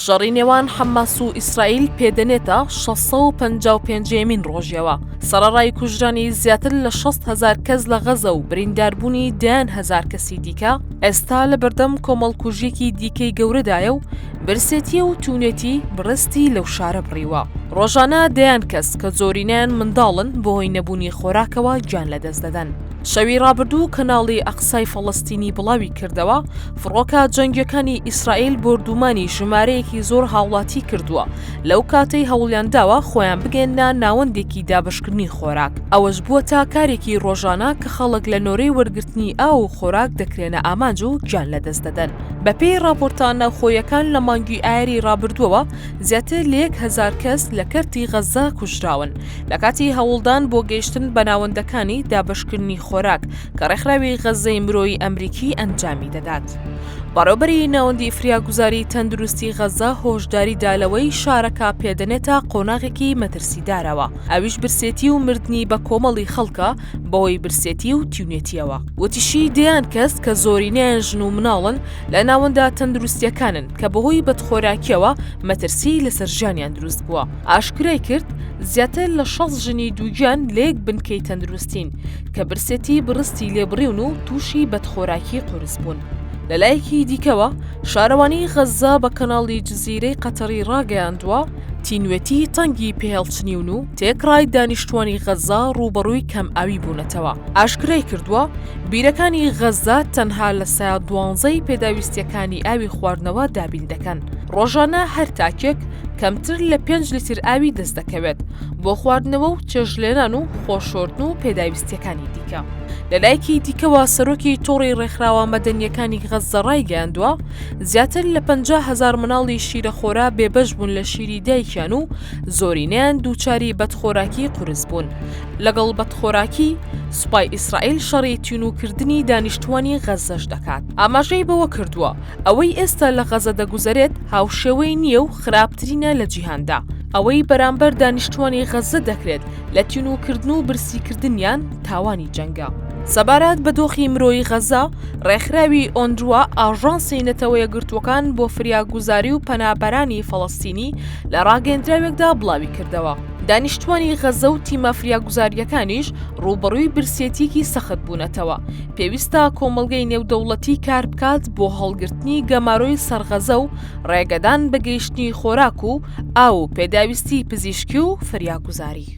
شەڕی نێوان حەماس و ئیسرائیل پێدەنێتە 655 یەمین ڕۆژەوە سەرڕای کوژرانی زیاتر لە 6 هزار کەس لە غەزە و برینداربوونی دەیان هزار کەسی دیکە ئێستا لە بەردەم کۆمەڵکوژیەکی دیکەی گەورەدایە و برسێتی و تونێتی بڕستی لەو شارە بڕیوە ڕۆژانە دەیان کەس کە زۆرینیان منداڵن بۆ هۆی نەبوونی خۆراکەوە گیان لەدەست دەدەن شەوی ڕابردوو کەناڵی ئەقسای فەڵستینی بڵاوی کردەوە فڕۆکە جەنگیەکانی ئیسرائیل بۆردومانی ژمارەیەکی زۆر هاوڵاتی کردووە لەو کاتەی هەوڵیان داوە خۆیان بگەنە ناوەندێکی دابشکردنی خۆراک ئەوەش بووە تا کارێکی ڕۆژانە کە خەڵک لە نۆرەی وەرگرتنی ئاو و خۆراک دەکرێنە ئامانج و گیان لەدەست دەدەن بەپێی ڕاپۆرتە ناوخۆیەکان لە مانگی ئایری ڕابردووەوە زیاتر لە یەک هزار کەس لە کەرتی غەززە کوژراون لە کاتی هەوڵدان بۆ گەیشتن بە ناوەندەکانی دابشکردنی خۆراک کە ڕێکخراوی غەززەی مرۆیی ئەمریکی ئەنجامی دەدات. بەڕێوبەری ناوەندی فریاگوزاری تەندروستی غەزە هۆشداری دا لەوەی شارەکە پێدەنێتە قۆناغێکی مەترسیدارەوە ئەویش برسێتی و مردنی بە کۆمەڵی خەڵکە بەوەی برسێتی و تیونێتیەوە وتیشی دەیان کەس کە زۆرینەیان ژن و مناڵن لە ناوەندە تەندروستیەکانن کە بەهۆی بەدخۆراکیەوە مەترسی لەسەر ژیانیان دروست بووە ئاشکرای کرد زیاتر لە شەست ژنی دووگیان لە یەک بنکەی تەندروستین کە برسێتی بڕستی لێبڕیون و تووشی بەدخۆراکی قورس بوون. لەلایەکی دیکەوە شارەوانی غەززە بە کەناڵی جززیرەی قەتەڕی ڕاگەیاندووە تینوێتی تەنگی پێهێڵچنیون و تێکڕای دانیشتوانی غەززە ڕووبەڕووی کەم ئاوی بوونەتەوە ئاشکرای کردووە بیرەکانی غەززە تەنها لە سا دوانزەی پێداویستیەکانی ئاوی خواردنەوە دابین دەکەن ڕۆژانە هەر تاکێک کەمتر لە پێنج لیتر ئاوی دەست دەکەوێت بۆ خواردنەوە و چێژلێنان و خۆشۆردن و پێداویستیەکانی دیکە لەلایەکی دیکەوە سەرۆکی تۆڕی ڕێکخراوە مەدەنیەکانی غەززە ڕایگەیاندووە زیاتر لە 50 هزار مناڵی شیرە خۆرا بێبەش بوون لە شیری دایکیان و زۆرینیان دووچاری بەدخۆراکی قرس بوون لەگەڵ بەدخۆراکی سوپای ئیسرائیل شەڕی تینوکردنی دانیشتوانی غەزەش دەکات ئاماژەی بەوە کردووە ئەوەی ئێستا لە غەزە دەگوزەرێت هاوشێوەی نییە و خراپترینە لە جیهاندا ئەوەی بەرامبەر دانیشتوانی غەززە دەکرێت لە تینوکردن و برسیکردنیان تاوانی جەنگە. سەبارەت بە دۆخی مرۆیی غەززە، ڕێکخراوی ئۆنروا ئاژانسی نەتەوە یەکگرتووەکان بۆ فریاگوزاری و پەنابەرانی فەڵەستینی لە ڕاگەندراوێکدا بڵاویکردەوە، دانیشتوانی غەززە و تیمە فریاگوزارییەکانیش ڕووبەڕووی برسێتییەکی سەخت بوونەتەوە، پێویستە کۆمەڵگەی نێودەوڵەتی کاربکات بۆ هەڵگرتنی گەمارۆی سەر غەززە و ڕێگەدان بە گەیشتنی خۆراک و ئاو و پێداویستی پزیشکی و فریاگوزاری.